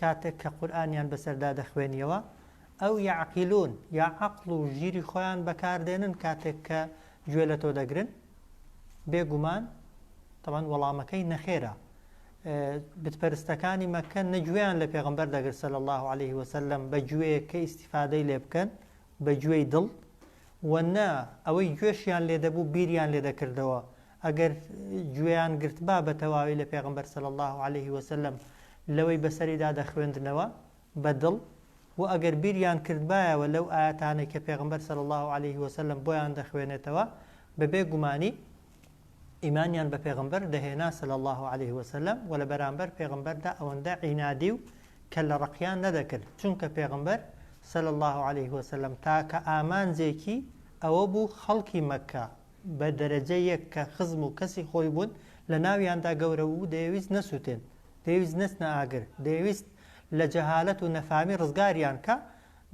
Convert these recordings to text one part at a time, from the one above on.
کاتێک کە قورئانیان بەسەردا دەخوێنیەوە ئەو یعقلون یا عەقڵ و ژیری خۆیان بەکاردێنن کاتێک کە گوێ لە تۆ دەگرن بێگومان تەبەن وەڵامەکەی نەخێرە بتپەرستەکانی مەکە نەگوێیان لە پێغمبەر دەگر سەل الله عليه وسلم بە گوێ کە ئیسیفادەی لێ بکەن بە گوێی دڵ وەنا ئەوەی گوێشیان لێ دەبوو بیریان لێ دەکردەوە ئەگەر گوێیان گرتبا بە تەواوی لە پێغەمبەر صلی اللە علیه وسلم لەوەی بەسەریدا دەخوێندنەوە بە دڵ، وە ئەگەر بیریان کردبایەوە لەو ئایەتانەی کە پێغەمبەر صلی اللە علیه وسلم بۆیان دەخوێنێتەوە بە بێ گومانی ئیمانیان بە پێغەمبەر دەهێنا صلی اللە علیه وسلم و لە بەرامبەر پێغەمبەردا ئەوەندە عینادی و کەللە ڕەقیان نەدەکرد چونکە پێغەمبەر صلی اللە علیه وسلم تاکە ئامانجێکی ئەوە بوو خەڵکی مەککە بە دەرەجە یەک کە خزم و کەسی خۆی بوون، لە ناویاندا گەورە بوو، دەیەویست نەسووتێن، دەیەویست نەچنە ئاگر، دەیەویست لە جەهالەت و نەفامی ڕزگاریان کا،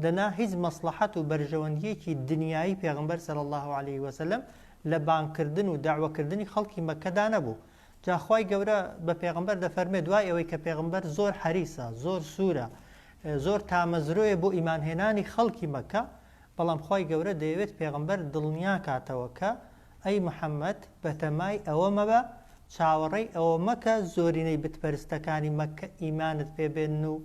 دەنا هیچ مەسڵەحەت و بەرژەوەندییەکی دنیایی پێغەمبەر صلی اللە علیە وسلم لە بانگکردن و دەعوەکردنی خەڵکی مەککەدا نەبوو. جا خوای گەورە بە پێغەمبەر دەفەرموێ دوای ئەوەی کە پێغەمبەر زۆر حەریسە، زۆر سوورە، زۆر تامەزرۆیە بۆ ئیمانهێنانی خەڵکی مەککە، بەڵام خوای گەورە دەیەوێت پێغەمبەر دڵنیاکاتەوە کە، ئەی محەممەد بەتەمای ئەوە مەبە، چاوەڕێی ئەوە مەکە زۆرینەی بتپەرستەکانی مەککە ئیمانت پێ بێنن و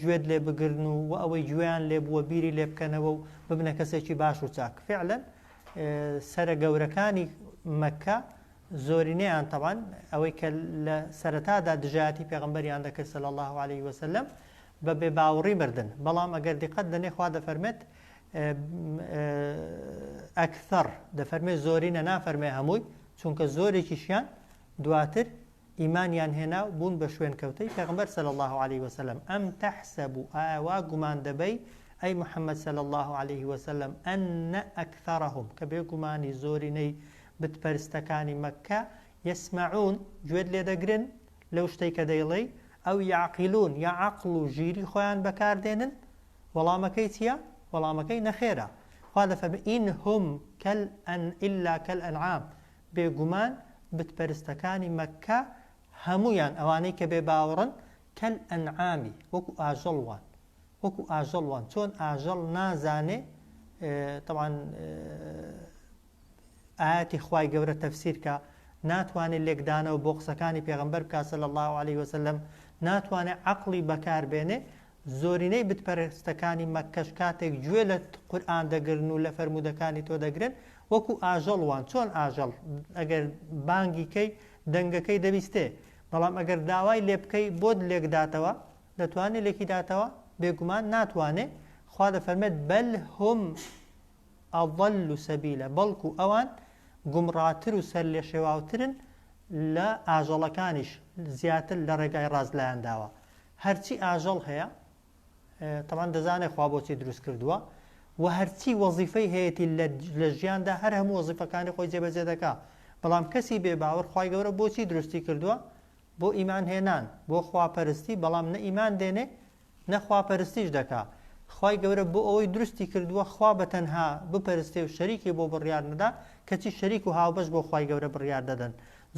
گوێت لێ بگرن و وە ئەوەی گوێیان لێ بووە بیری لێ بکەنەوە و ببنە کەسێکی باش و چاک. فیعلا سەرە گەورەکانی مەککە زۆرینەیان تەبعەن ئەوەی کە لە سەرەتادا دژایەتی پێغەمبەریان دەکرد صلی اللە علیە وسلم بە بێ باوڕی مردن بەڵام ئەگەر دیقەت دەنێ خوا دەفەرمێت ئەکثەر دەفەرمێ زۆرینە نافەرمێ هەمووی چونکە زۆرێکیشیان دواتر ئیمانیان هێنا و بوون بە شوێن کەوتەی پێغمبەر سەل الله عليه وسلم ئەم تەحسەب و ئاوا گومان دەبەی ئەی محەممەد سەل الله عليه وسلم ئەنە ئەکثەرهم کە بێگومانی زۆرینەی بتپەرستەکانی مەکە یسمعون، گوێت لێ دەگرن، لەو شتەی کە دەیڵێی، ئەو یعقلون، یا عەقڵ و ژیری خۆیان بەکار دێنن؟ وەڵامەکەی چییە؟ وەڵامەکەی نەخێرە. خوا دەفەرمێ، ان هم کل ان الا کالانعام، بێگومان بت پەرستەکانی مەککە هەموویان، ئەوانەی کە بێ باوەڕن، کالانعام، وەکو ئاژەڵ وان، وەکو ئاژەڵ وان، چۆن ئاژەڵ نازانێ، تەبعەن، ئایاتی خوای گەورە تەفسیر کە ناتوانێت لێکدانەوە بۆ قسەکانی پێغەمبەر بکات صلی الله علیه وسلم ناتوانێت عەقڵی بەکار بێنێ زۆرینەی بتپەرستەکانی مەککەش کاتێک گوێ لە قورآن دەگرن و لە فەرمودەکانی تۆ دەگرن وەکو ئاژەڵ وان چۆن ئاژەڵ ئەگەر بانگی کەی دەنگەکەی دەبیستێ بەڵام ئەگەر داوای لێ بکەی بۆت لێکداتەوە دەتوانێت لێکی داتەوە بێگومان ناتوانێ خوا دەفەرمێت بەل هم اضل سبیلا بەڵکو ئەوان گومڕاتر و سەرلێشێواوترن لە ئاژەڵەکانیش زیاتر لە ڕێگای ڕاست لایان داوە هەرچی ئاژەڵ هەیە تەمان دەزانێت خوا بۆچی دروست کردووە و هەرچی وەزیفەی هەیەی لە ژیاندا هەر هەموو وەزیفەکانی خۆی جێبەجێ دەکا بەڵام کەسی بێ باوەڕ خی گەورە بۆچی دروستی کردووە بۆ ئیمان هێنان بۆ خواپەرستی بەڵام نە ئیمان دێنێ نە خواپەرستیش دەکا خوای گەورە بۆ ئەوەی دروستی کردووە خوا بە تەنها بپەرستێ و شەریکی بۆ بڕیار نەدا کەچی شەریک و هاوبەش بۆ خوای گەورە بڕیار دەدەن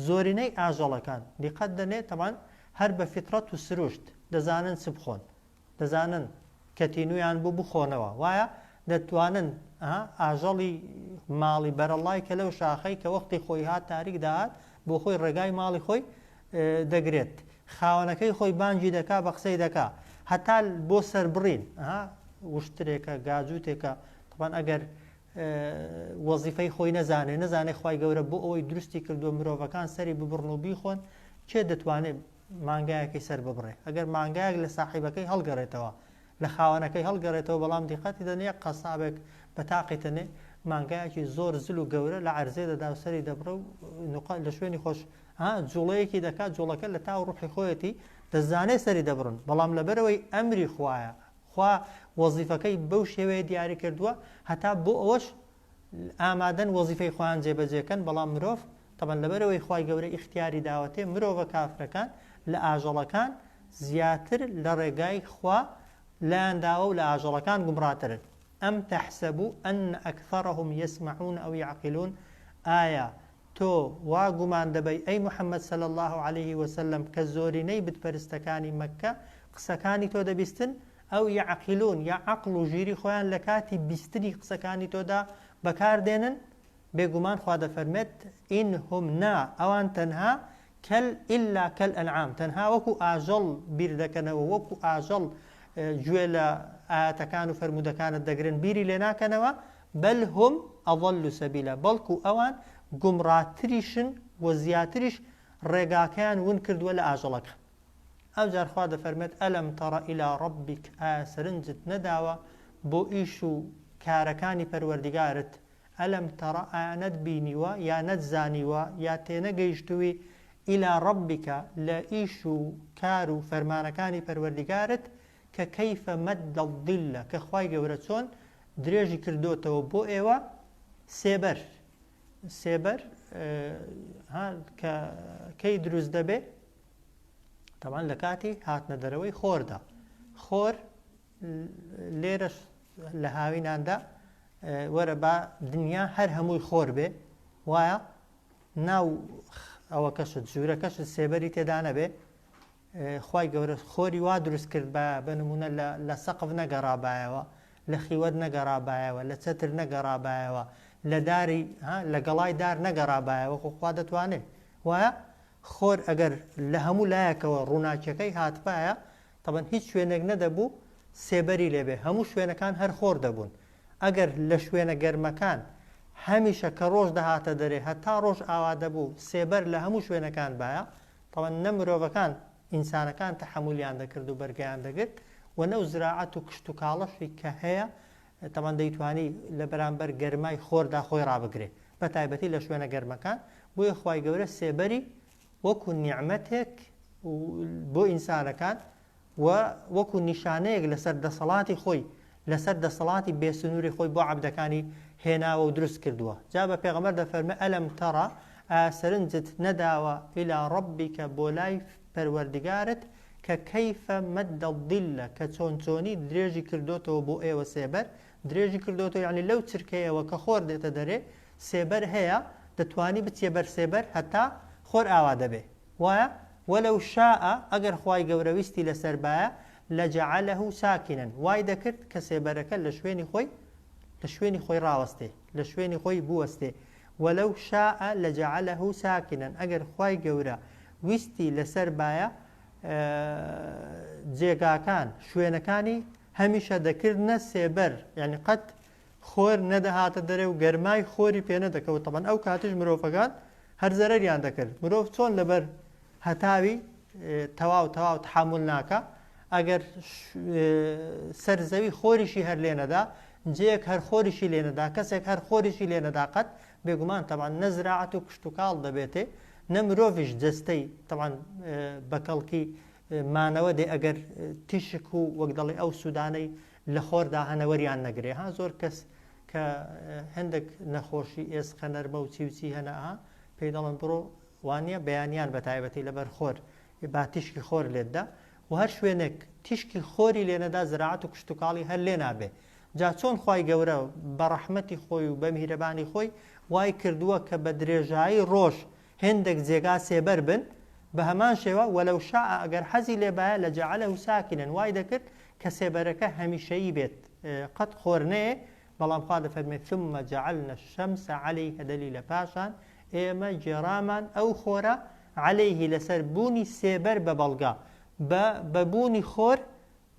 زۆرینەی ئاژەڵەکان دیقەت دەنێ تەبان هەر بە فیتڕەت و سروشت دەزانن چ بخۆن دەزانن کە تینویان بۆ بخۆنەوە وایە دەتوانن ئاژەڵی ماڵی بەرەڵای کە لەو شاخەی کە وەختی خۆی هات تاریک داهات بۆ خۆی ڕێگای ماڵی خۆی دەگرێت خاوەنەکەی خۆی بانگی دەکا بە قسەی دەکا هەتا بۆ سەربڕین وشترێکە گاجووتێکە تەبان ئەگەر وەزیفەی خۆی نەزانێ نەزانێ خی گەورە بۆ ئەوەی دروستی کردووە مرۆڤەکان سەری ببڕن و بیخۆن کێ دەتوانێت مانگایەکی سەر ببڕێ ئەگەر مانگایەک لە ساحیبەکەی هەڵگەڕێتەوە لە خاوەنەکەی هەڵگەڕێتەوە بەڵام دیقەتی دەنێ قەسابێک بە تاقی تەنێ مانگایەکی زۆر زل و گەورە لە عەرزێ دەدا و سەری دەبڕە و نقا لە شوێنی خۆش ها جوڵەیەکی دەکات جوڵەکە لە تاو ڕوحی خۆیەتی دەزانێ سەری دەبڕن بەڵام لەبەرەوەی ئەمری خوایە خوا وەزیفەکەی بەو شێوەیە دیاری کردووە هەتا بۆ ئەوەش ئامادەن وەزیفەی خۆیان جێبەجێکەن بەڵام مرۆڤ تەبەن لەبەرەوەی خی گەورە ئیختیاری داوەتێ مرۆڤە کافرەکان لە ئاژەڵەکان زیاتر لە ڕێگای خوا لایانداوە و لە ئاژەڵەکان گومڕاترن ئەم تەحسەبوو ئەن ئەکثەرهم یسمعون ئەو یعقلون ئایا تۆ وا گومان دەبەی ئەی محمد صلی اللە علیە وسلم کە زۆرینەی بتپەرستەکانی مەککە قسەکانی تۆ دەبیستن ئەو یعقلون یا عەقڵ و ژیری خۆیان لە کاتی بیستنی قسەکانی تۆدا بەکار دێنن بێگومان خوا دەفەرمێت ان هم نا ئەوان تەنها کەل الا کەل انعام تەنها وەکو ئاژەڵ بیر دەکەنەوە وەکو ئاژەڵ گوێ لە ئاەتەکان و فەرموودەکانت دەگرن بیری لێ ناکەنەوە بل هم اضل سبیلا بەڵکو ئەوان گومڕاتریشن و زیاتریش ڕێگاکەیان ون کردوە لە ئاژەڵەکان ئەوجار خوا دەفەرمێت ئەلم تەڕ ئیلا ڕبیک ئایا سەرنجت نەداوە بۆ ئیش و کارەکانی پەروەردگارت ئەلم تەڕ ئایا نەت بینیوە یا نەت زانیوە یا تێنەگەیشتووی ئیلا ڕبیکە لە ئیش و کار و فەرمانەکانی پەروەردگارت کە کەیفە مەد دڵلە کە خوای گەورە چۆن درێژی کردۆتەوە بۆ ئێوە سێبەر سێبەر کە کەی دروست دەبێ تەوان لە کاتی هاتنە دەرەوەی خۆردا خۆر لێرەش لە هاویناندا وەرە با دنیا هەر هەمووی خۆر بێ وایە ناو ئەوە کەشت ژوورە کەشت سێبەری تێدا نەبێ خوای گەورە خۆری وا دروست کردبایە بە نموونە لە لە سەقف نەگەڕابایەوە لە خیوەت نەگەڕابایەوە لە چەتر نەگەڕابایەوە لە داری ها لە گەڵای دار نەگەڕابایەوە خۆ خوا دەتوانێ وایە خۆر ئەگەر لە هەموو لایەکەوە ڕووناکیەکەی هاتبایە تەبەن هیچ شوێنێک نەدەبوو سێبەری لێبێ هەموو شوێنەکان هەر خۆر دەبوون ئەگەر لە شوێنە گەرمەکان هەمیشە کە ڕۆژ دەهاتە دەرێ هەتا ڕۆژ ئاوا دەبوو سێبەر لە هەموو شوێنەکان بایە تەوە نە مرۆڤەکان، ئینسانەکان تەحەمولیان دەکرد و بەرگەیان دەگرت و نەو زراعەت و کشت و کاڵەشی کە هەیە تەوان دەیتوانی لە بەرامبەر گەرمای خۆردا خۆی ڕابگرێ بە تایبەتی لە شوێنە گەرمەکان بۆیە خوای گەورە سێبەری وەکو نیعمەتێک بۆ ئینسانەکان و وەکو نیشانەیەک لەسەر دەسەڵاتی خۆی لەسەر دەسەڵاتی بێ سنووری خۆی بۆ عەبدەکانی هێناوە و دروست کردووە جا بە پێغەمبەر دەفەرمێ ئەلەم تەڕە ئایا سەرنجت نەداوە ئیلا ڕەبیکە بۆ لای پەروەردگارت کە کەیفە مەدە ظیلە کە چۆن چۆنی درێژی کردۆتەوە بۆ ئێوە سێبەر درێژی کردۆتەوە یعنی لەو چرکەیەوە کە خۆر دێتە دەرێ سێبەر هەیە دەتوانی بچیە بەر سێبەر هەتا خۆر ئاوا دەبێ وایە، ولو شاء، ئەگەر خوای گەورە ویستی لەسەر بایە، لجعله ساکنا، وای دەکرد کە سێبەرەکە لە شوێنی خۆی لە شوێنی خۆی ڕاوەستێ، لە شوێنی خۆی بوەستێ، ولو شاء لجعله ساکنا، ئەگەر خوای گەورە ویستی لەسەر بایە، جێگاکان، شوێنەکانی، هەمیشە دەکردنە سێبەر، یانی قەت خۆر نەدەهاتە دەرێ و گەرمای خۆری پێنەدەکەوت تەبەن ئەو کاتیش مرۆڤەکان هەر زەرەریان دەکرد مرۆڤ چۆن لەبەر هەتاوی تەواو تەواو تحمل ناکە ئەگەر سەر زەوی خۆریشی هەر لێنەدا جێک هەر خۆریشی لێنەدا کەسێک هەر خۆریشی لێنەداقەت بێگومان تەوان نەزراعەت و کشتتوکاڵ دەبێتێ نە مرۆڤش جستەی تەوان بەکەڵکی مانەوە دێ ئەگەر تیشک و وەک دەڵێ ئەو سوودانەی لەخۆردا هەنە وەریان نەگرێ ها زۆر کەس کە هەندێک نەخۆشی ئێسقە نەرمە و چی و چی هەنە ها پێی دەڵن بڕۆ وانە بەیانیان بە تایبەتی لەبەر خۆر با تیشکی خۆر لێتدا و هەر شوێنێک تیشکی خۆری لێنەدا زراعەت و کشتتوکاڵی هەر لێ نابێ جا چۆن خی گەورە بە ڕەحمەتی خۆی و بە میرەبانی خۆی وای کردووە کە بە درێژایی ڕۆژ هێندەک جێگا سێبەر بن، بە هەمان شێوە، ولو شاء، گەر حەزی لێ بایە، لجعله ساکنن، وای دەکرد کە سێبەرەکە هەمیشەیی بێت، قەت خۆر نەیێ، بەڵام خوا دەفەرموێت، ثم جعلنا الشمس علیه دلیلە پاشان ئێمە گێڕامان ئەو خۆرە، علیه لەسەر بوونی سێبەر بە بەڵگە، بە بە بوونی خۆر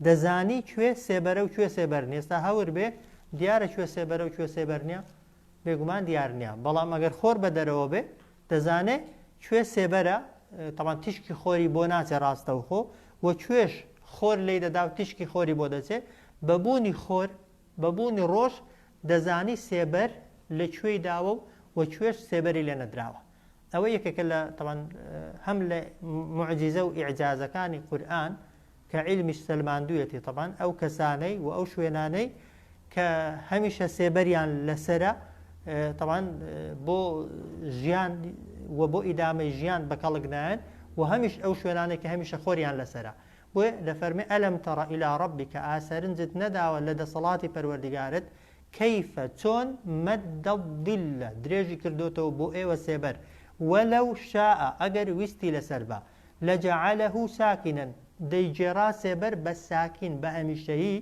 دەزانی کوێ سێبەرە و کوێ سێبەر نیە ئێستا هەور بێ دیارە کوێ سێبەرە و کوێ سێبەر نیە بێگومان دیار نیە بەڵام ئەگەر خۆر بە دەرەوە بێ دەزانێ کوێ سێبەرە تەمان تیشکی خۆری بۆ ناچێ ڕاستەوخۆ و کوێش خۆر لی دەدا و تیشکی خۆری بۆ دەچێ بەبوونی خۆر بەبوونی ڕۆژ دەزانی سێبەر لە کوێی داوە و و کوێش سێبەری لێ نەدراوە ئەوە یەکێکە لە تەمان هەم لە معجیزە و ئیعجازەکانی قورآن کە عیلمیش سەلماندویەتی تەبعەن ئەو کەسانەی و ئەو شوێنانەی کە هەمیشە سێبەریان لەسەرە تەبعەن بۆ ژیان و بۆ ئیدامەی ژیان بە کەڵک نایەن و هەمیش ئەو شوێنانەی کە هەمیشە خۆریان لەسەرە بۆیە دەفەرمێ ئەلم تەڕە ئیلا ڕەبی کە ئاسەرنجت نەداوە لە دەسەڵاتی پەروەردگارت کەیفە چۆن مەدە ظلە درێژی کردوتەوە بۆ ئێوە سێبەر وەلەو شاء ئەگەر ویستی لەسەر بە لجعله ساکنا دەیگێڕا سێبەر بە ساکین بە هەمیشەیی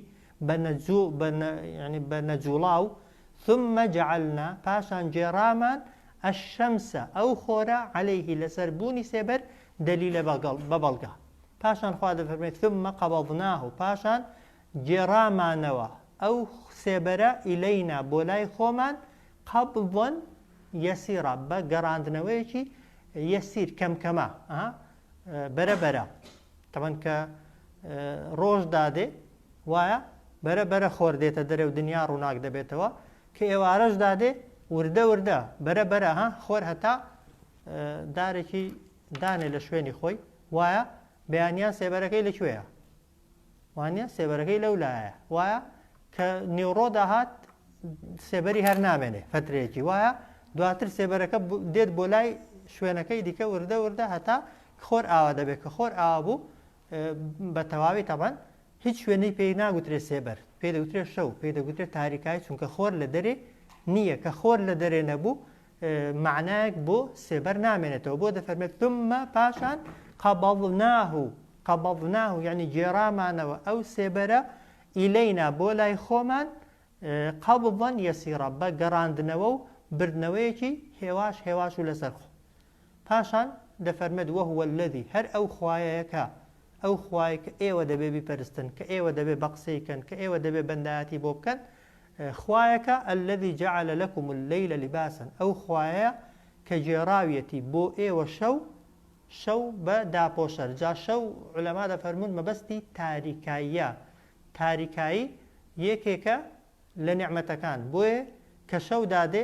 بە نەجوو بە نە یەعنی بە نەجووڵاو ثم جعلنا پاشان گێڕامان الشمس ئەو خۆرە علیه لەسەر بوونی سێبەر دلیلە بەگەڵ بە بەڵگە پاشان خوا دەفەرمێت ثم قبضناه پاشان گێڕامانەوە ئەو سێبەرە ئیلینا بۆ لای خۆمان قبضن یسیرا بە گەڕاندنەوەیەکی یسیر کەم کەمە ها بەرە بەرە تەبەن کە ڕۆژ دادێ وایە بەرە بەرە خۆر دێتە دەرێ و دنیا ڕووناک دەبێتەوە کە ئێوارەش دادێ وردە وردە بەرە بەرە ها خۆر هەتا دارێکی دانێ لە شوێنی خۆی وایە بەیانیان سێبەرەکەی لەکوێیە وانیە سێبەرەکەی لەو لایە وایە کە نیوڕۆ داهات سێبەری هەر نامێنێ فترەیەکی وایە دواتر سێبەرەکە دێت بۆ لای شوێنەکەی دیکە وردە وردە هەتا خۆر ئاوا دەبێت کە خۆر ئاوا بوو بە تەواوی تەمان هیچ شوێنی پێی ناگوترێ سێبەر پێ دەوترێت شەو پێ دەگوترێت تاریکای چونکە خۆر لە دەرێ نییە کە خۆر لە دەرێ نەبوو مەعنایەک بۆ سێبەر نامێنێتەوە بۆ دەفەرمێت ثم پاشان قبضناه قبضناه یعنی گێرامانەوە ئەو سێبەرە ئیلەینا بۆ لای خۆمان قەبڵەن یەسیڕە بە گەڕاندنەوە و بردنەوەیەکی هێواش هێواش و لەسەر خۆ پاشان دەفەرمێت وەهوە لەدی هەر ئەو خوایەکە ئەو خوای کە ئێوە دەبێ بیپەرستن کە ئێوە دەبێ بە قسەیکەن کە ئێوە دەبێ بەندایەتی بۆ بکەن خوایەکە الذی جعل لکم اللیل لباسا ئەو خوایەیە کە گێڕاویەتی بۆ ئێوە شەو شەو بە داپۆشەر جا شەو علەما دەفەرموون مەبەستی تاریکاییە تاریکایی یەکێکە لە نیعمەتەکان بۆیە کە شەو دادێ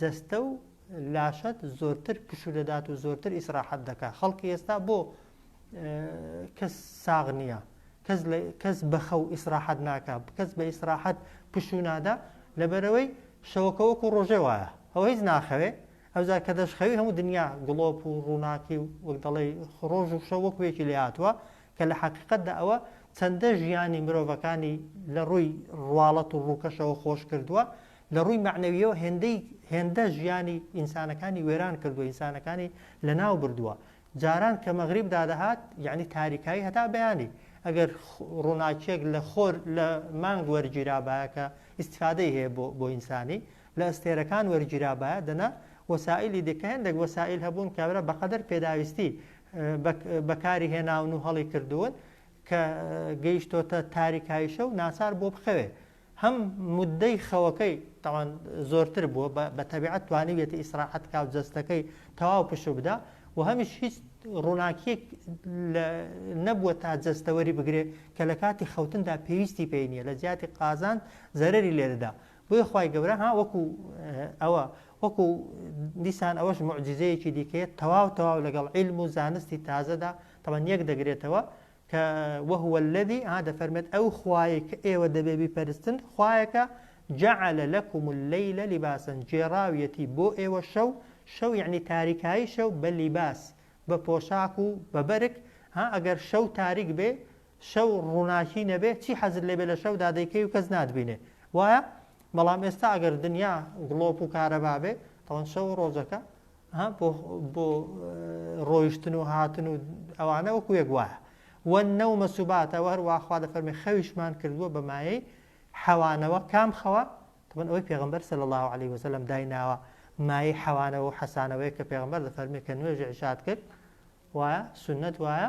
جەستە و لاشەت زۆرتر پشو دەدات و زۆرتر ئیسراحەت دەکات خەڵکی ئێستا بۆ کەس ساغ نییە کەس بەخەو ئیسراحەت ناکە کەس بە ئیسراحەت پشو نادا لەبەرەوەی شەوەکە وەکو ڕۆژێ وایە ئەو هیچ ناخەوێ ئەوزا کە دەشخەوی هەموو دنیا گڵۆپ و ڕووناکی و وەک دەڵێ ڕۆژ و شە وەکوێکی لێ هاتووە کە لە حقیقتدا ئەوە چەندە ژیانی مرۆڤەکانی لە ڕووی ڕواڵەت و ڕووکەشەوە خۆش کردووە لە ڕووی مەعنەوییەوە هێندەی هێندە ژیانی ئینسانەکانی وێران کردووە، ئینسانەکانی لەناو بردووە. جاران کە مەغریب دادەهات، یەعنی تاریکایی هەتا بەیانی، ئەگەر ڕووناکییەک لە خۆر لە مانگ وەرگیرابایە کە ئیستیفادەی هەیە بۆ بۆ ئینسانی، لە ئەستێرەکان وەرگیرابایە، دەنا وەسائیلی دیکە هێندێک وەسائیل هەبوون کە برا بەقەدەر پێداویستی بە بەکاری هێناون و هەڵی کردوون کە گەیشتۆتە تاریکاییشە و ناچار بووە بخەوێ. هەم موددەی خەوەکەی تاوان زۆرتر بووە بە بە تەبیعەت توانیویەتی ئیسراحەت کا و جەستەکەی تەواو پشو بدا و هەمیش هیچ ڕووناکیەک لە نەبووە تا جەستەوەری بگرێ کە لە کاتی خەوتندا پێویستی پێی نییە لە جیاتی قازان زەرری لێدەدا بۆیە خی گەورە ها وەکو ئەوە وەکو دیسان ئەوەش معجززەیەکی دیکەیە تەواو تەواو لەگەڵ عیلم و زانستی تازەدا تەمەن یەک دەگرێتەوە کە، وهو الذی، ە، دەفەرمێت، ئەو خوایەی کە ئێوە دەبێت بیپەرستن، خوایەکە، جعل لکم اللیل لباسا، گێڕاویەتی بۆ ئێوە شەو، شەو یەعنی تاریکایی شەو، بە لیباس، بە پۆشاک و بە بەرگ، ها ئەگەر شەو تاریک بێ، شەو ڕووناکی نەبێ، چی حەزت لێ بێ لە شەودا دەیکەی و کەس ناتبینێ. وایە؟ بەڵام ئێستا ئەگەر دنیا گڵۆپ و کارەبا بێ، ئەوە شەو و ڕۆژەکە بۆ ڕۆیشتن و هاتن و ئەوانە وەکو یەک وایە وە نەومە سوباتەوە هەروە خوا دەفەرمی خەویشمان کردووە بە مایەی حەوانەوە کام خەوە تمن ئەوەی پێغمبەر سەل الله عليه وسلم دایناوە مایەی حەوانەوە و حەسانەوەی کە پێغمبەر دەفەرمی کە نوێژ عشاد کرد وایە سنت وایە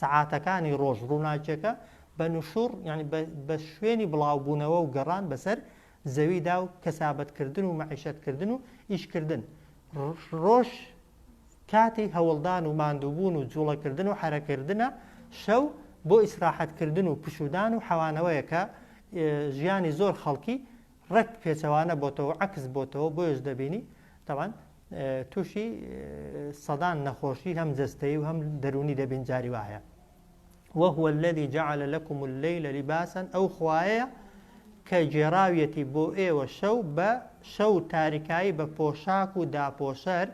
سەعاتەکانی ڕۆژ ڕووناکیەکە بە نوشوڕ یانی بە شوێنی بڵاوبوونەوە و گەڕان بەسەر زەویدا و کەسابەتکردن و مەعیشەتکردن و ئیشکردن ڕۆژ کاتی هەوڵدان و ماندووبوون و جوڵەکردن و حرەکردنە شەو بۆ ئیسراحەتکردن و پشودان و حەوانەوەیەکە ژیانی زۆر خەڵکی ڕێک پێچەوانە بۆتەوە و عەکس بۆتەوە بۆیەش دەبینی تاوان تووشی سەدان نەخۆشی هەم جەستەی و هەم دەرونی دەبین جاری وایە وهو الذي جعل لكم الليل لباسا ئەو خوایە کە گێڕاویەتی بۆ ئێوە شەو بە شەو تاریکایی بە پۆشاک و داپۆشەر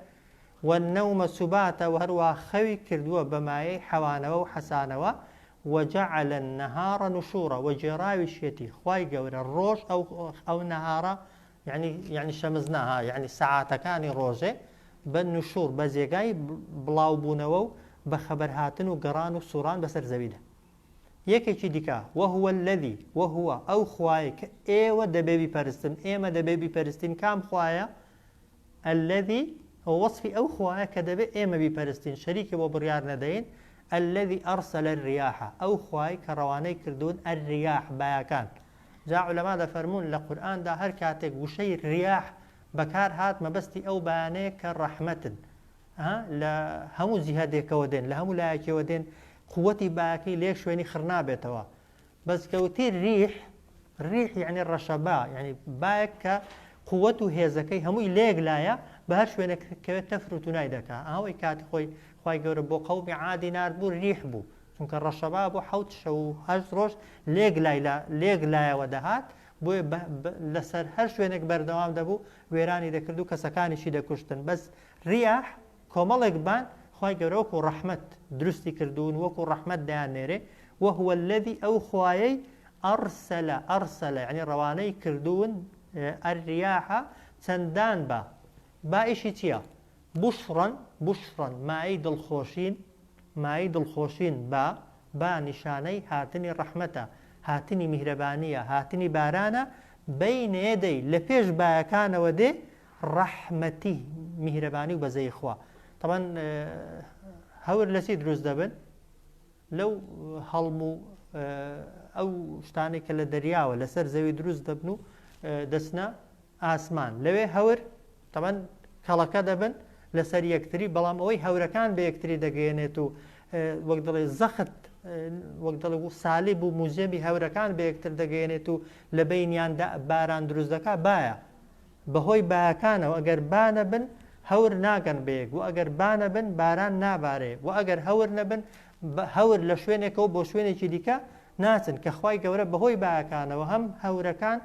والنوم سباتا و هەروا خەوی کردووە بە مایەی حەوانەوە و حەسانەوە، وجعل النهار نشورا و گێڕاویشیەتی خوای گەورە ڕۆژ ئەو ئەو نەهارە یەعنی یەعنی شەمزنا ها یەعنی سەعاتەکانی ڕۆژێ بە نشور بە جێگای بڵاو بوونەوە و بە خەبەر هاتن و گەڕان و سوڕان بەسەر زەویدا یەکێکی دیکە وهو الذی وهو ئەو خوایە کە ئێوە دەبێ بیپەرستن ئێمە دەبێ بیپەرستین کام خوایە الذی، ئەوە وەسفی ئەو خوایە کە دەبێت ئێمە بیپەرستین، شەریکی بۆ بڕیار نەدەین، الذی ارسل الریاح، ئەو خوای کە ڕەوانەی کردوون، الریاح، بایەکان. جا عولەما دەفەرموون لە قورئاندا هەر کاتێک وشەی، ریاح، بەکار هات مەبەستی ئەو بایانەیە کە ڕەحمەتن، ە، لە هەموو جیهەدێکەوە دێن، لە هەموو لایەکیەوە دێن، قووتی بایەکەی لە یەک شوێنی خڕنابێتەوە، بەس کە وتی ریح ریح یعنی ڕەشەبا یعنی بایەک کە قوت و هێزەکەی هەمووی لەیەک لایە بە هەر شوێنێک کەوێت تەفر و تونای دەکا ئەوەی کاتی خۆی خی گەورە بۆ قەومی عادی نرد بوو ریح بوو چونکە ڕەشەبا بۆ حوت شە و هەشت ڕۆژ لێک لای لە لێک لایەوە دەهات بۆ لەسەر هەر شوێنێک بەردەوام دەبوو وێرانی دەکرد و کەسەکانیشی دەکوشتن بەس ریاح کۆمەڵێک بان خوای گەورە وەکو ڕەحمەت دروستی کردوون وەکو ڕەحمەت دەیان نێرێ، وهو الذی ئەو خوایەی ارسل ارسل یەعنی ڕەوانەی کردوون الریاح چەندان با، با ئیشی چیە؟ بشرا بشرا مایەی دڵخۆشین مایەی دڵخۆشین با، با نیشانەی هاتنی ڕەحمەتە هاتنی میهرەبانیە هاتنی بارانە، بین یدی لەپێش بایەکانەوە دێ ڕەحمەتی میهرەبانی و بەزەیی خوا تەبەن هەور لە چی دروست دەبن لەو هەڵم و ئەو شتانێک کە لە دەریاوە لەسەر زەوی دروست دەبن و دەچنە ئاسمان لەوێ هەور تەبەن کەڵەکە دەبن لەسەر یەکتری بەڵام ئەوەی هەورەکان بە یەکتری دەگەێنێت و وەک دڵێ زەخت وەک دڵ و سالی بوو موزیەمی هەورەکان بە یەکتر دەگەێنێت و لە بینیاندا باران دروست دەکات باە بەهۆی بایەکانەوە گەر با نەبن هەور ناگەن بەیەک و ئەگەر با نەبن باران نابارێ و ئەگەر هەور نەبن هەور لە شوێنێکەوە بۆ شوێنێکی دیکە ناچن کە خی گەورە بەهۆی بایەکانەوە هەم هەورەکان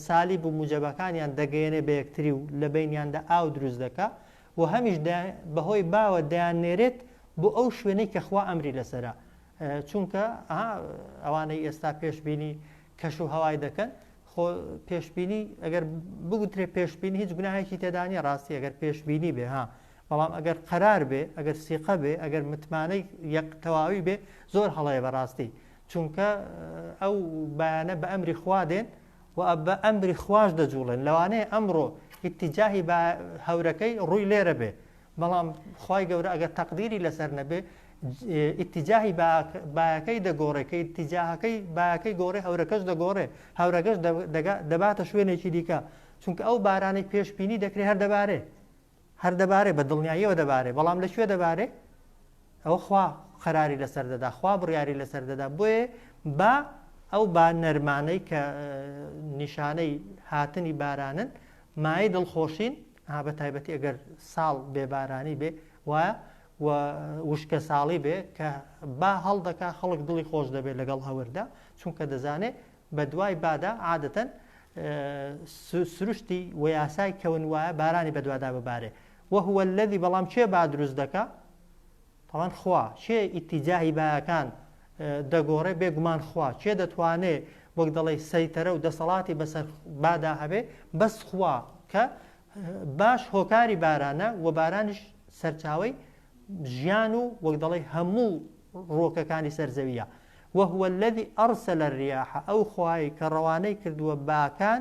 سالی بوو موجەبەکانیان دەگەیەنێ بە یەکتری و لە بینیاندا ئاو دروست دەکە و هەمیش بەهۆی باوە دەیان نێرێت بۆ ئەو شوێنەی کە خوا ئەمری لەسرە چونکە ئەوانەی ئێستا پێشبینی کەش و هەوای دەکەن خۆ پێشبینی ئەگەر بگوترێ پێشبینی هیچ گوناهێکی تێدانە ڕاستی ئەگەر پێشبینی بێ ها بەڵام ئەگەر قەرار بێ ئەگەر سیقە بێ ئەگەر متمانەی یەک تەواوی بێ زۆر هەڵەیە بەڕاستی چونکە ئەو بەیانە بە ئەمری خوا دێن و بە ئەمری خواش دەجوڵێن لەوانەیە ئەمڕۆ ئیتیجاهی بە هەورەکەی ڕووی لێرە بێ بەڵام خوای گەورە ئەگەر تەقدیری لەسەر نەبێ ئیتیجاهی باەکەی دەگۆڕێ کە ئیتیجاهەکەی باەکەی گۆڕێ هەورەکەش دەگۆڕێ هەورەگەش دەباتە شوێنێکی دیکە چونکە ئەو بارانەی پێشببینی دەکرێت هەر دەبارێ هەر دەبارێ بە دڵنیاییەوە دەبارێ بەڵام لەکوێ دەبارێ ئەوە خوا قەراری لەسەر دەدا خوا بڕیاری لەسەر دەدا بۆیە با ئەو با نەرمانەی کە نیشانەی هاتنی بارانن مای دڵخۆشین ها بە تایبەتی ئەگەر ساڵ بێ بارانی بێ وایە و وشکە ساڵی بێ کە با هەڵدەکا خەڵک دڵی خۆش دەبێت لەگەڵ هەوردا چونکە دەزانێت بە دوای بادا عادەتەن سروشتی و یاسای کەون وایە بارانی بەدوادا ببارێ وهوە الذي بەڵام چێ با دروست دەکا بەڵام خوا کێ ئیتیجاهی باکان دەگۆڕێ بێ گومان خوا کێ دەتوانێ وەک دەڵێی سەیتەرە و دەسەڵاتی بەسەر بادا هەبێ بەس خوا کە باش هۆکاری بارانە و بارانیش سەرچاوی ژیان و وەک دەڵێی هەموو ڕۆکەکانی سەرزەویە وهوە الذي ئەرسە لە ریاحە ئەو خوای کە ڕەوانەی کردووە باکان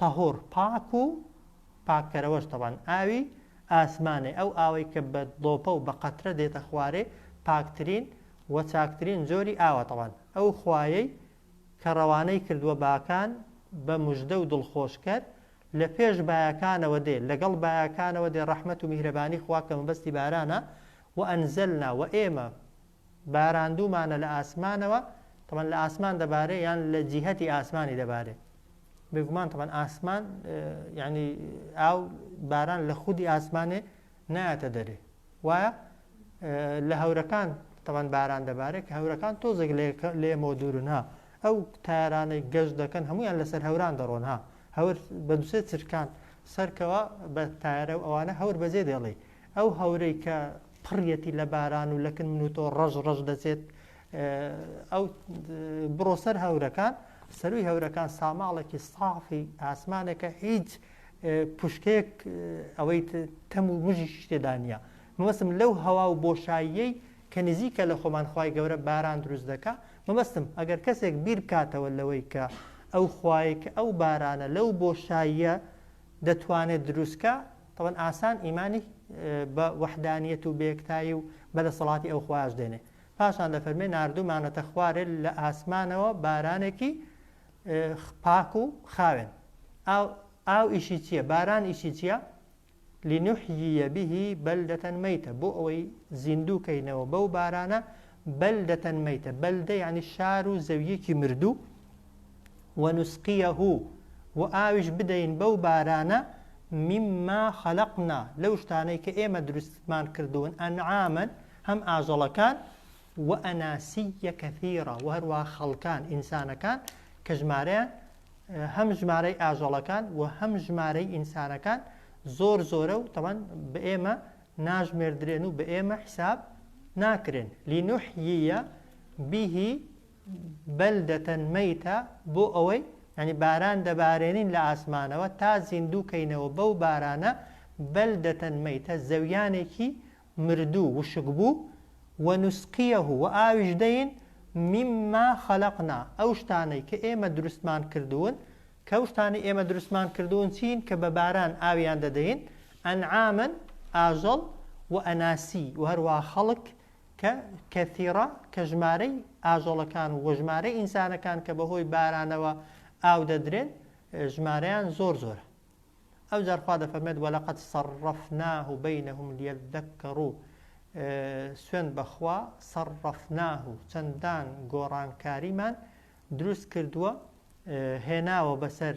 طهور پاک و پاککەرەوەش تەبعەن ئاوی ئاسمانێ ئەو ئاوەی کە بە ڵۆپە و بە قەترە دێتە خوارێ پاکترین و چاکترین جۆری ئاوە تەبعەن ئەو خوایەی کە ڕەوانەی کردووە باکان بە مژدە و دڵخۆشکەر لە پێش بایەکانەوە دێ لەگەڵ بایەکانەوە دێ ڕەحمەت و میهرەبانی خوا کە مەبەستی بارانە وە انزلنا وە ئێمە باراندومانە لە ئاسمانەوە طبعا لە ئاسمان دەبارێ یان لە جیهەتی ئاسمانی دەبارێ بێگومان طبعا ئاسمان یعنی ئاو باران لە خودی ئاسمانێ نایەتە دەرێ وایە لە هەورەکان تەوان باران دەبارێت کە هەورەکان تۆزێک لێمەوە دوورن ها ئەو تارانەی گەشت دەکەن هەمویان لەسەر هەوران دەڕۆن ها هەور بەدوسێ چرکان سەرکەوە بە تارە و ئەوانە هەور بەجێ دێڵی ئەو هەورەی کە پڕیەتی لە باران و لەکن من و تۆ ڕەژ ڕەژ دەچێت ئەو بڕۆ سەر هەورەکان سەروی هەورەکان ساماڵێکی سافی ئاسمانەکە هیچ پشکێک ئەوەی تەم و مژی شتێدانە مەوەسم لەو هەوا و بۆشاییەی کە نزیکە لە خۆمان خی گەورە باران دروست دەکە مەبەستم ئەگەر کەسێک بیر بکاتەوە لەوەی کە ئەو خوایە کە ئەو بارانە لەو بۆشاییە دەتوانێت دروستکە تەبەن ئاسان ئیمانی بە وەحدانیەت و بەیەکتایی و بە دەسەڵاتی ئەو خوایەش دێنێ. پاشان دەفەرمێ ناردوومانەتە خوارێ لە ئاسمانەوە بارانێکی پاک و خاوێن. ئاو ئاو ئیشی چییە؟ باران ئیشی چییە؟ لنحییە به بەلدەتەن مەیتە بۆ ئەوەی زیندوو کەینەوە بەو بارانە بەلدەتەن مەیتە بەلدە یعنی شار و زەویەکی مردوو ونسقیه و ئاویش بدەین بەو بارانە مما خلقنا لەو شتانەی کە ئێمە دروستمان کردوون انعاما هەم ئاژەڵەکان واناسیا کثیرا و هەروا خەڵکان ئینسانەکان کە ژمارەیان هەم ژمارەی ئاژەڵەکان و هەم ژمارەی ئینسانەکان زۆر زۆرە و تەمان بە ئێمە ناژمێردرێن و بە ئێمە حساب ناکرێن لینوحیە بیهی بەلدەتە مەیتە بۆ ئەوەی یانی باران دەبارێنین لە ئاسمانەوە تا زیندوو کەینەوە بەو بارانە بەلدەتە مەیتە زەویانێکی مردوو وشکبوو ونسقیه و ئاویش دەین مما خلقنا ئەو شتانەی کە ئێمە دروستمان کردوون کە ئەو شتانەی ئێمە دروستمان کردوون چین کە بە باران ئاویان دەدەین انعاما ئاژەڵ واناسیی و هەروەها خەڵک کە، کثیرە، کە ژمارەی ئاژەڵەکان و وژمارەی ئینسانەکان کە بەهۆی بارانەوە ئاو دەدرێن ژمارەیان زۆر زۆرە ئەوجار خوا دەفەرمێت وەلەقەد صرفناه بینهم لیذکروا سوێن بەخوا صرفناه چەندان گۆڕانکاریمان دروست کردووە هێناوە بەسەر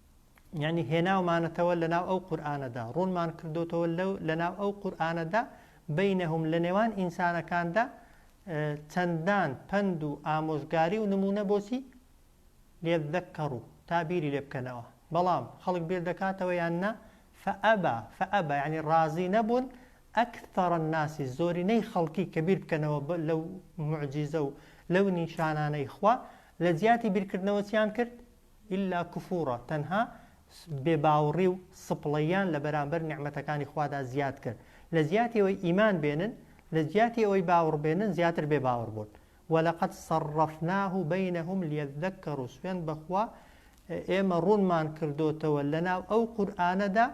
یعنی هێناومانەتەوە لە ناو ئەو قورآانەدا ڕوونمان کردوتەوە لەو لە ناو ئەو قورآانەدا بینەهم لە نێوان ئینسانەکاندا چەندان پند و ئامۆژگاری و نمونە بۆچی لێدەکەڕ و تا بیری لێ بکەنەوە بەڵام خەڵک بیر دەکاتەوە یان نا فەبا فەبا ینی ڕازی نەبوون ئەکتەڕە ناسی زۆرینەی خەڵکی کە بیر بکەنەوە لەو معجیزە و لەو نیشانانەی خوا لە جیاتی بیرکردنەوە چیان کرد الا کفورا تەنها بێ باوڕی و سپڵەییان لە بەرامبەر نیعمەتەکانی خوادا زیاد کرد لە جیاتی ئەوەی ئیمان بێنن لە جیاتی ئەوەی باوڕ بێنن زیاتر بێ باوڕ بوون ولقد صرفناه بینهم لیذکروا سوێند بەخوا ئێمە ڕوونمان کردۆتەوە لەناو ئەو قورئانەدا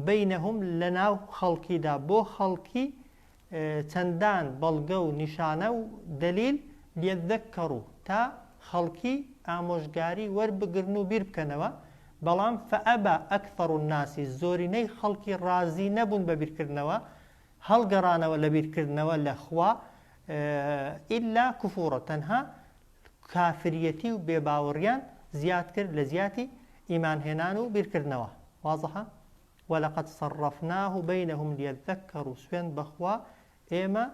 بینهم لەناو خەڵکیدا بۆ خەڵکی چەندان بەڵگە و نیشانە و دەلیل لێکدەککەڕو تا خەڵکی ئامۆژگاری وەربگرن و بیربکەنەوە، بەڵام فەئەبا ئەکثەڕ الناس زۆرینەی خەڵکی ڕازی نەبوون بە بیرکردنەوە، هەڵگەڕانەوە لە بیرکردنەوە لە خوا، ئیلا کفورا تەنها کافریەتی و بێباوڕیان زیاد کرد لە جیاتی ئیمان هێنان و بیرکردنەوە. واضحە؟ ولقد صرفناه بینهم لیذکروا سوێند بەخوا ئێمە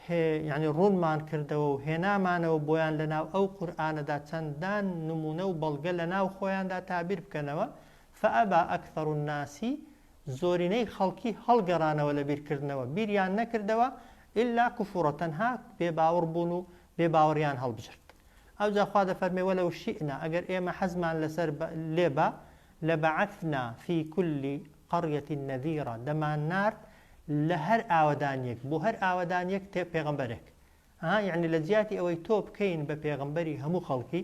هێ یانی ڕوونمان کردەوە و هێنامانەوە بۆیان لەناو ئەو قورئانەدا چەندان نموونە و بەڵگە لەناو خۆیاندا تا بیر بکەنەوە فابا اکثر الناس زۆرینەی خەڵکی هەڵگەڕانەوە لە بیرکردنەوە بیریان نەکردەوە الا کفورا تەنها بێ باوڕ بوون و بێ باوڕیان هەڵبژرد ئەوجا خوا دەفەرمێ ولو شئنا ئەگەر ئێمە حەزمان لەسەر لێ با لبعثنا فی کل قریە نذیرا دەمان نارد لە هەر ئاوەدانیەک بۆ هەر ئاوەدانیەک تێ پێغەمبەرێک ها یەعنی لە جیاتی ئەوەی تۆ بکەین بە پێغەمبەری هەموو خەڵکی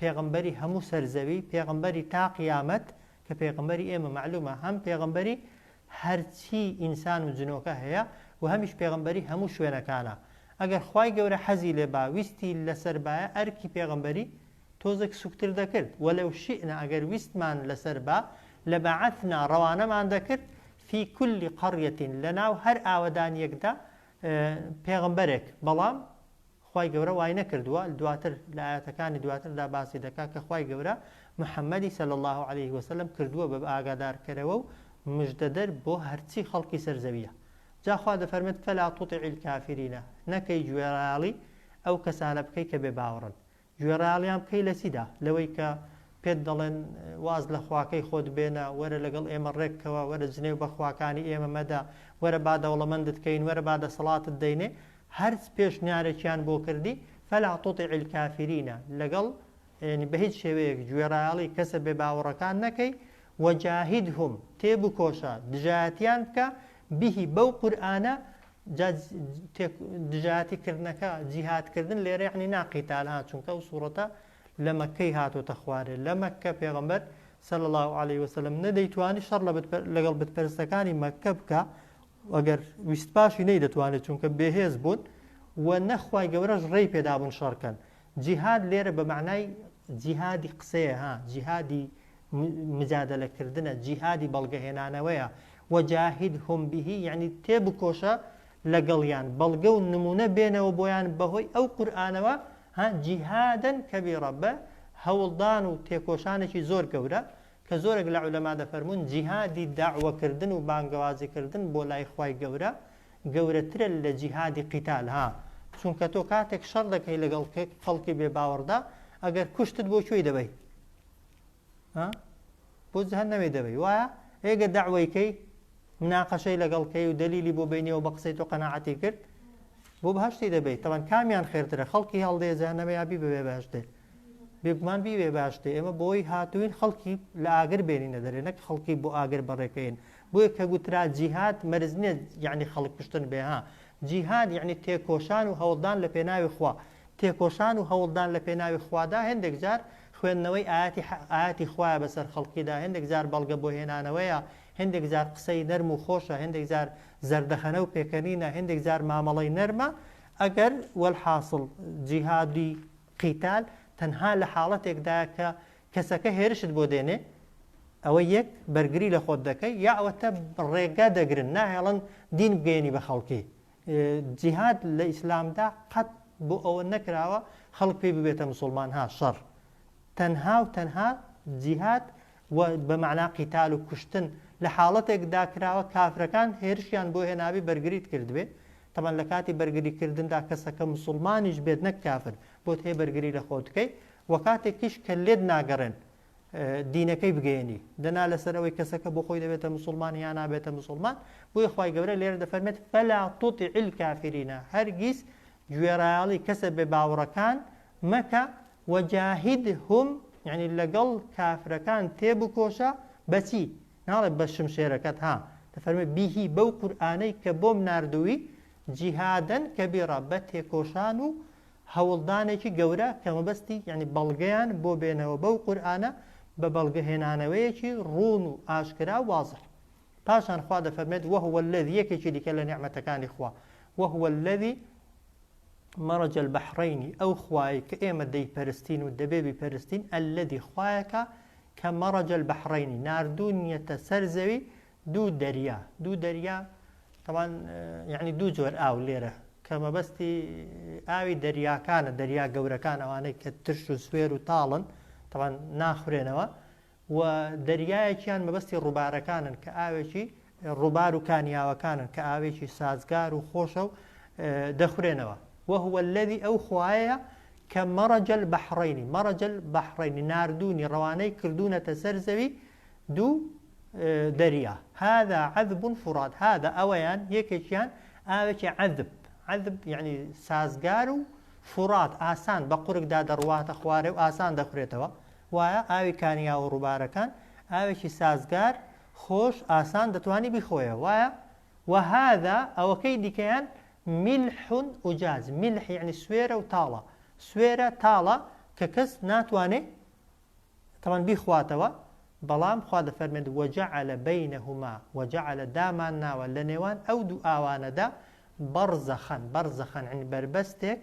پێغەمبەری هەموو سەر زەوی پێغەمبەری تا قیامەت کە پێغەمبەری ئێمە مەعلومە هەم پێغەمبەری هەرچی ئینسان و جنۆکە هەیە و هەمیش پێغەمبەری هەموو شوێنەکانە ئەگەر خوای گەورە حەزی لێ با ویستی لەسەر بایە ئەرکی پێغەمبەری تۆزێک سوکتر دەکرد، ولو شئنا ئەگەر ویستمان لەسەر با، لبعثنا ڕەوانەمان دەکرد، فی کل قریە لەناو هەر ئاوەدانیەکدا پێغەمبەرێک، بەڵام خوای گەورە وای نەکردووە، دواتر لە ئایەتەکانی دواتردا باسی دەکات کە خوای گەورە محمدی صلی اللە علیه وسلم کردووە بە ئاگادارکەرەوە و مژدەدەر بۆ هەرچی خەڵکی سەر زەویە جا خوا دەفەرمێت فلا تطع الکافرین نەکەی گوێڕایەڵی ئەو کەسانە بکەی کە بێ باوەڕن گوێ ڕایەڵیان بکەی لە چیدا؟ لەوەی کە پێت دەڵێن واز لە خواکەی خۆت بێنە، وەرە لەگەڵ ئێمە ڕێک کەوە، وەرە جنێو بە خواکانی ئێمە مەدە، وەرە با دەوڵەمەندت کەین، وەرە با دەسەڵاتت دەینێ، هەرچ پێشنیارێکیان بۆ کردی، فلا تطع الکافرین، لەگەڵ، یەنی بە هیچ شێوەیەک، گوێ ڕایەڵی کەسە بێ باوەڕەکان نەکەی، وجاهدهم، تێبکۆشە، دژایەتیان بکە، به، بەو قورئانە، جا تێک دژایەتی کردنەکە جیهاد کردن لێرە یعنی نا قیتال ها چونکە ئەو سوڕەتە لە مەککەی هاتۆتە خوارێ لە مەککە پێغەمبەر صلی الله علیه وسلم نەدەیتوانی شەڕ لە بت پەر- لەگەڵ بتپەرستەکانی مەککە بکە ئەگەر ویست پاشی نەیدەتوانێت چونکە بێهێز بوون و نەخوای گەورەش ڕێی پێدابوون شەڕکەن جیهاد لێرە بە مەعنای جیهادی قسەیە ها جیهادی مجادلە کردنە جیهادی بەڵگەهێنانەوەیە وەجاهد هم بهی یعنی تێ بکۆشە لەگەڵیان بەڵگە و نمونە بێنەوە بۆیان بەهۆی ئەو قورآانەوە ها جیهادن کەبیڕە بە هەوڵدان و تێکۆشانێکی زۆر گەورە کە زۆرێک لە عولەما دەفەرموون جیهادی دەعوەکردن و بانگەوازیکردن بۆ لای خوای گەورە گەورەترە لە جیهادی قیتال ها چونکە تۆ کاتێک شەڕ دەکەی لەگەڵ خەڵکی بێ باوەڕدا ئەگەر کوشتت بۆ کوێی دەبەی ها بۆ جەهەنەمێ دەبەی وایە ئێگە دەعوەیکەی مناقەشەی لەگەڵ کەی و دەلیلی بۆ بینیەوە بە قسەی تۆ قەناعەتی کرد بۆ بەهشتی دەبیت تەوان کامیان خێرترە خەڵکی هەڵدێ جانەمە یابی بەبێ باشتێ بێگومان بیوێ باشتێ ئێمە بۆی هاتوین خەڵکی لە ئاگر بێنینە دەرێ نەک خەڵکی بۆ ئاگر بەڕێکەین بۆیە کە گوترا جیهات مەرز نیە یعنی خەڵک کوشتن بێ ها جیهاد یعنی تێکۆشان و هەوڵدان لە پێناوی خوا تێکۆشان و هەوڵدان لە پێناوی خوادا هەندێک جار خوێندنەوەی ئاتی ئاتی خوایە بەسەر خەڵکیدا هەندێک جار بەڵگە بۆ هێنانەوەیە هێندێک جار قسەی نەرم و خۆشە هێندێک جار زەردەخەنە و پێکەنینە هێندێک جار مامەڵەی نەرمە ئەگەر والحاصل جیهادی قیتال تەنها لە حاڵەتێکدایە کە کەسەکە هێرشت بۆ دێنێ ئەوە یەک بەرگری لە خۆت دەکەی یا ئەوەتە ڕێگا دەگرن ناهێڵن دین بگەێنی بە خەڵکی جیهاد لە ئیسلامدا قەت بۆ ئەوە نەکراوە خەڵک پێی ببێتە مسلمان ها شەڕ تەنها و تەنها جیهاد و بە مەعنا قیتال و کوشتن لە حاڵەتێک دا کراوە کافرەکان هێرشیان بۆ هێنابێ بەرگریت کردبێ تەبەن لە کاتی بەرگری کردندا کەسەکە مسوڵمانیش بێت نەک کافر بۆت هەیە بەرگری لە خۆت بکەی و کاتێکیش کە لێت ناگەڕێن دینەکەی بگەێنی دەنا لەسەر ئەوەی کەسەکە بۆ خۆی دەبێتە مسلمان یان نابێتە مسلمان بۆی خی گەورە لێرە دەفەرمێت فەلا تۆتی عیل کافرینە هەرگیز گوێڕایاڵی کەسە بێ باوڕەکان مەکە وجاهدهم یانی لەگەڵ کافرەکان تێبکۆشە، بەچی؟ ناڵێ بە شمشێرەکەت ها، دەفەرموێ به بەو قورئانەی کە بۆم ناردووی، جهادا کبیرا بە تێکۆشان و هەوڵدانێکی گەورە کە مەبەستی یانی بەڵگەیان بۆ بێنەوە بەو قورئانە بە بەڵگە هێنانەوەیەکی ڕوون و ئاشکرا و واضح. پاشان خوا دەفەرموێت وهو الذی یەکێکی دیکە لە نیعمەتەکانی خوا، وهو الذی مەرەج البحرینی، ئەو خوایەی کە ئێمە دەیپەرستین و دەبێ بیپەرستین، الذی خوایەکە کە مەرەج البحرینی، ناردوونیەتە سەر زەوی دوو دەریا، دوو دەریا تەبان یعنی دوو جۆر ئاو لێرە کە مەبەستی ئاوی دەریاکانە دەریا گەورەکان ئەوانەی کە ترش و سوێر و تاڵن تەبان ناخورێنەوە و دەریایەکیان مەبەستی ڕووبارەکانن کە ئاوێکی ڕووبار و کانیاوەکانن کە ئاوێکی سازگار و خۆشە و دەخورێنەوە وهوە الذی ئەو خوایە کە مەڕەجەل بەحڕینی مەڕەجەل بەحڕینی ناردوونی ڕەوانەی کردوونەتە سەر زەوی دوو دەریا هذا عذب فرات هذا ئەوەیان یەکێکیان ئاوێکی عذب عذب یعنی سازگار و فرات ئاسان بە قورکدا دەڕواتە خوارێ و ئاسان دەخورێتەوە وایە ئاوی کانیا و ڕووبارەکان ئاوێکی سازگار، خۆش، ئاسان دەتوانی بیخۆیەوە وایە؟ وهذا ئەوەکەی دیکەیان ملح اجاج، ملح یەعنی سوێرە و تاڵە، سوێرە تاڵە کە کەس ناتوانێ تەبعەن بیخواتەوە، بەڵام خوا دەفەرمێت وجعل بینهما، وجعل دامان ناوە لەنێوان ئەو دوو ئاوانەدا بەڕزەخەن، بەرزەخەن یەعنی بەربەستێک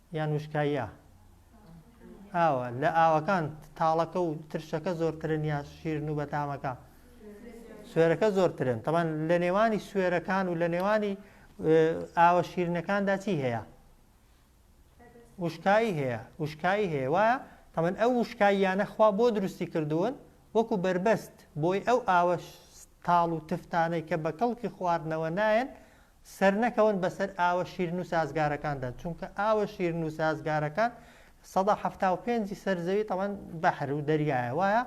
یان وشکاییە ئاوە لە ئاوەکان تاڵەکە و ترشەکە زۆرترن یا شیرن و بەتامەکە سوێرەکە زۆرترن تەمان لە نێوانی سوێرەکان و لە نێوانی ئاوە شیرنەکاندا چی هەیە وشکایی هەیە وشکایی هەیە وایە تەمەن ئەو وشکاییانە خوا بۆ دروستی کردوون وەکو بربەست بۆی ئەو ئاوە تاڵ و تفتانەی کە بە کەڵکی خواردنەوە نایەن سەرنەکەون بەسەر ئاوە شیرن و سازگارەکاندا چونکە ئاوە شیرن و سازگارەکان سەدا حەفتا و پێنج ی سەر زەوی تەبعەن بەحر و دەریایە وایە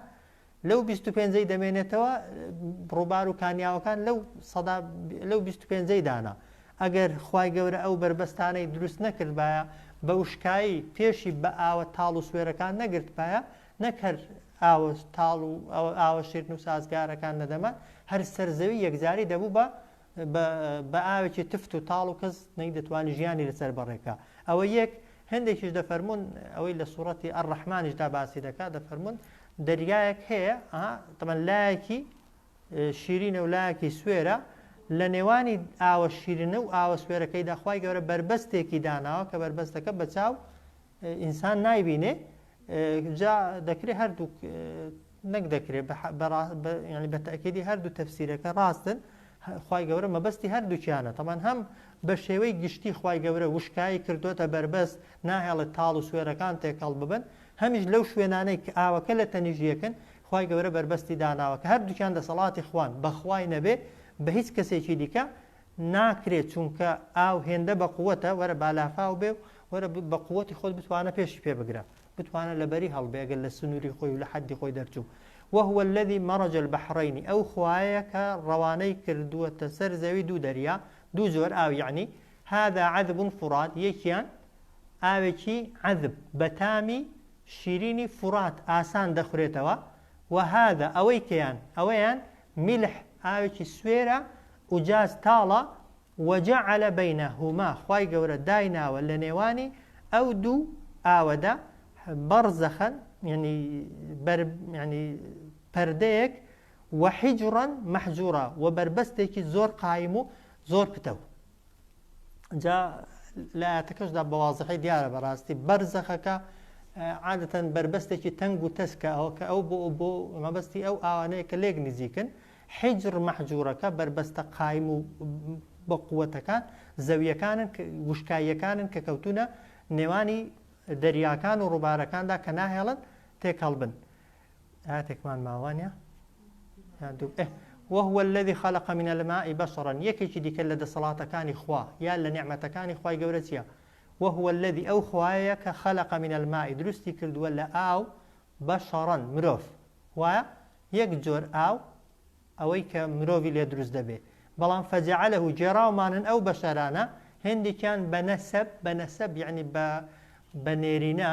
لەو بیست و پێنج ی دەمێنێتەوە ڕووبار و کانیاوەکان لەو سەدا لەو بیست و پێنج ی دانە ئەگەر خوای گەورە ئەو بەربەستانەی دروست نەکردبایە بە وشکایی پێشی بە ئاوە تاڵ و سوێرەکان نەگرتبایە نەک هەر ئاوە تاڵ و ئاوە شیرن و سازگارەکان نەدەمان هەر سەر زەوی یەکجاری دەبوو بە بە ئاوێکی تفت و تاڵ و کەس نەیدەتوانی ژیانی لەسەر بەڕێکا ئەوە یەک هەندێکیش دەفەرمونون ئەوەی لە سوڕەتی ئەڕەحمانیشدا باسی دەکات دەفەرمونون دەریایەک هەیە تەمەەن لایەکی شیرینە و لایەکی سوێرە لە نێوانی ئاوە شیرنە و ئاوە سوێرەکەی داخوای گەورە بربەستێکی داناوە کە بربەستەکە بەچاو ئینسان نایبینێ جا دەکرێت هەردووک نەک دەکرێت ینی بە تاکیدی هەردوو تەفسیرەکە ڕاستن خی گەورە مەبەستی هەردووکیانە تەمان هەم بە شێوەی گشتی خی گەورە وشکایی کردوتە بەربەست ناهێڵێت تاڵ و سوێرەکان تێکەڵ ببن هەمیش لەو شوێنانەی کە ئاوەکە لە تەنیژیەکن خی گەورە بەربەستی داناوە کە هەردووکیان دەسەڵاتی خوان بەخوای نەبێ بە هیچ کەسێکی دیکە ناکرێت چونکە ئاو هێندە بەقوەتە وەرە بالافاو بێ و وەرە بە قوتی خۆت بتوانە پێشی پێ بگرە بتوانە لەبەری هەڵبێگە لە سنووری خۆی و لە حەدی خۆی دەرچوو وهوە الذي مەڕەج البحرینی ئەو خوایە کە ڕەوانەی کردووەتە سەر زەوی دوو دەریا دوو جۆر ئاو یعنی هذا عذب فرات یەکیان ئاوێکی عذب بەتامی شیرینی فرات ئاسان دەخورێتەوە وهذا ئەوەی کەیان ئەوەیان ملح ئاوێکی سوێرە ئوجاج تاڵە، وجعل بینهما خوای گەورە دایناوە لەنێوانی ئەو دوو ئاوەدا بەڕزەخەن یەنی بەر یەنی پەردەیەک وحجرا محجورا وبەربەستێکی زۆر قایم و زۆر پتەو. جا لە ئاەتەکەشدا بە وازحی دیارە بەڕاستی بەرزەخەکە عادەتەن بەربەستێکی تەنگ و تەسکە ئەوە کە ئەو بۆ بۆ مەبەستی ئەو ئاوانەیە کە لێک نزیکن حیجر مەحجورەکە بەربەستە قایم و بە قووەتەکان زەویەکانن وشکاییەکانن کە کەوتونە نێوانی دەریاکان و ڕووبارەکاندا کە ناهێڵن تێکەڵ بن ئاتێکمان ماوە نیە وهو الذي خلق من الماء بشرا یەکێکی دیکە لە دەسەڵاتەکانی خوا یا لە نعمەتەکانی خوای گەورە چیە وهو الذي ئەو خوایە کە خلق من الماء دروستی کردووە لە ئاو بشرا مرۆڤ وایە یەک جۆر ئاو ئەوەی کە مرۆڤی لێ دروست دەبێ بەڵام فەجعلە و جێراومانن ئەو بەشەرانە هندێکیان بە نەسەب بە نەسەب یعنی بە بە نێرینە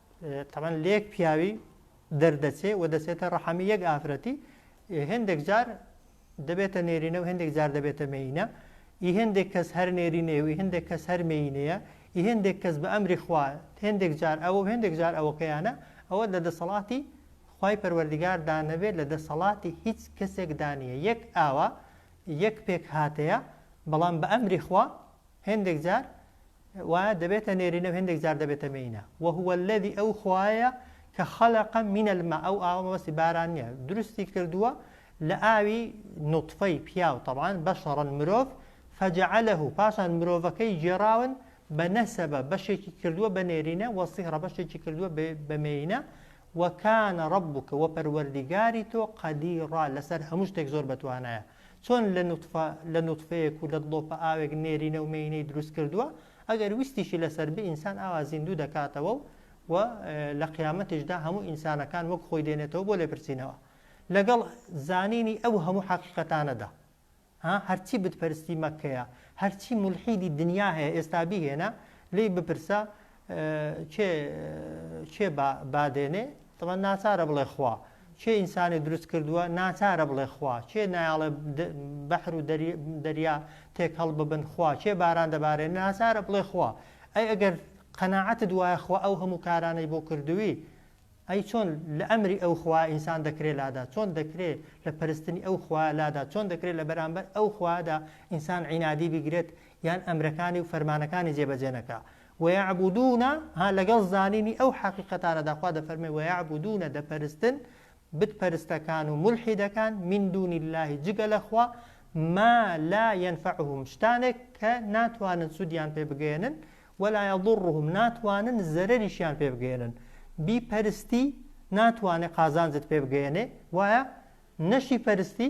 تەبەن لێک پیاوی دەردەچێ و دەچێتە ڕەحەمی یەک ئافرەتی هێندێک جار دەبێتە نێرینە و هێندێک جار دەبێتە مینە ئی هێندێک کەس هەر نێرینێ و هێندێک کەس هەر مینەیە ئی هێندێک کەس بە ئەمری خوا هێندێک جار ئەوە و هێندێک جار ئەوەکەیانە ئەوە لە دەسەڵاتی خی پەروەردگار دانەبێت لە دەسەڵاتی هیچ کەسێک دانیە یەک ئاوا یەک پێک هاتەیە بەڵام بە ئەمری خوا هێندێک جار وایە دەبێتە نێرینە و هێندێک جار دەبێتە مێینە وهو الذی ئەو خوایە کە خەلەقە من الماء ئەو ئاوە مەبەستی باران نییە درستی کردووە لە ئاوی نوطفەی پیاو طبعا بەشەڕەن مرۆڤ فجعله پاشان مرۆڤەکەی گێراون بە نەسەبە بەشێکی کردووە بە نێرینە وە سیهڕە بەشێکی کردووە بە مێینە وەکانە ڕبووکە وە پەروەردیگاری تۆ قەدیڕا لەسەر هەموو شتێک زۆر بەتوانایە چۆن لە نوتفە لە نوتفەیەک و لە دڵۆپە ئاوێک نێرینە و مێینەی دروست کردووە ئەگەر ویستیشی لەسەر بێ ئینسان ئاوا زیندوو دەکاتەوە و و لە قیامەتیشدا هەموو ئینسانەکان وەک خۆی دێنێتەوە بۆ لێپرسینەوە لەگەڵ زانینی ئەو هەموو حەقیقەتانەدا ها هەرچی بتپەرستی مەکەیە هەرچی مولحیدی دنیا هەیە ئێستا بیهێنە لێی بپرسە کێ کێ با بادێنێ تەبا ناچارە بڵێ خوا کێ ئینسانی دروست کردووە ناچارە بڵێ خوا کێ نایاڵێ بەحر و دەریا تێک هەڵ ببن خوا کێ باران دەبارێن ناچارە بڵێ خوا ئەی ئەگەر قەنەعەتت وایە خوا ئەو هەموو کارانەی بۆ کردووی ئەی چۆن لە ئەمری ئەو خوا ئینسان دەکرێ لادا چۆن دەکرێ لە پرستنی ئەو خوا لادا چۆن دەکرێت لە بەرامبەر ئەو خوادا ئینسان عینادی بگرێت یان ئەمرەکانی و فەرمانەکانی جێبەجێنەکە ویعبودون ها لەگەڵ زانینی ئەو حەقیقەتانەدا خوا دەفەرمێ ویعبودون دەپەرستن بت پەرستەکان و مولحیدەکان من دون اللە جگە لە خوا ما لا ینفعهم شتانێک کە ناتوانن سودیان پێ بگەیەنن ولا یضرهم ناتوانن زەرەریشیان پێ بگەیەنن بی پەرستی ناتوانێ قازانجت پێ بگەیەنێ وایە نەشی پەرستی